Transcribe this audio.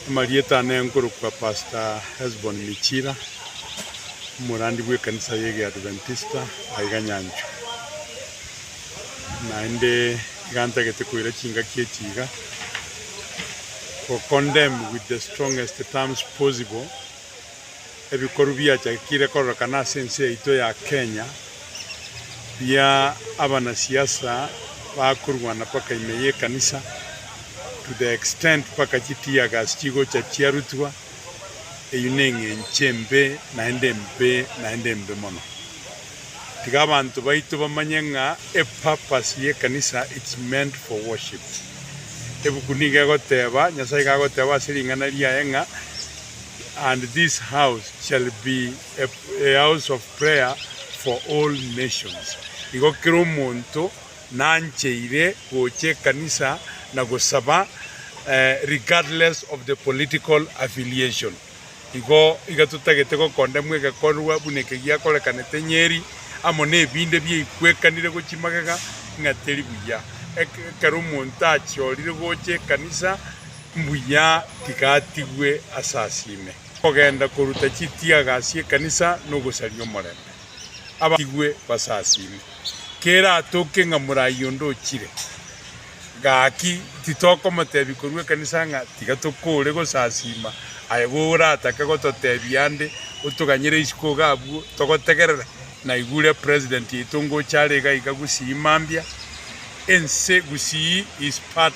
Amarieta ane nkorokwa Pastor Hesbon Michira, omorandi bw'ekanisa y'egeadventista aiga nyanchwe. Naende iga ntagete koira chingaki echi iga, Go condemn with the strongest terms possible, Ebikoru biachakire kororekana ase ense yaito ya Kenya bia abanasiasa bakorwana mpaka ime y'ekanisa to the extent mpaka chi tear gas chigocha chiarutwa, eyio neng'encho embe naende embe naende embe mono. Tiga abanto baito bamanye ng'a e purpose y'ekanisa it's meant for worship. Ebuku nigo egoteba, Nyasae iga agoteba ase ring'ana riaye ng'a. and this house shall be a, a house of prayer for all nations. Igo kera omonto nancheire gocha ekanisa na gosaba eh, regardless of the political affiliation. Igo iga totagete gokondemwa egekorwa buna eke giakorekanete Nyeri, amo nebinde biaikwekanire gochia magega, ng'a teri buya. Eke- Ekero omonto achiorire gocha ekanisa Mbuya tigatigwe asasime kogenda koruta chitiaga ase ekanisa na ogosaria omorembe. Abatigwe basasime. Kera atoke ng'a morai onde ochire, gaki titokomotebia korwa ekanisa ng'a tiga tokore gosasima aye goratake gototebia ande otoganyere isiko iga abwo togotegerera. Naigure president yaito ngocha are iga iga gusii mambia ense gusii is part.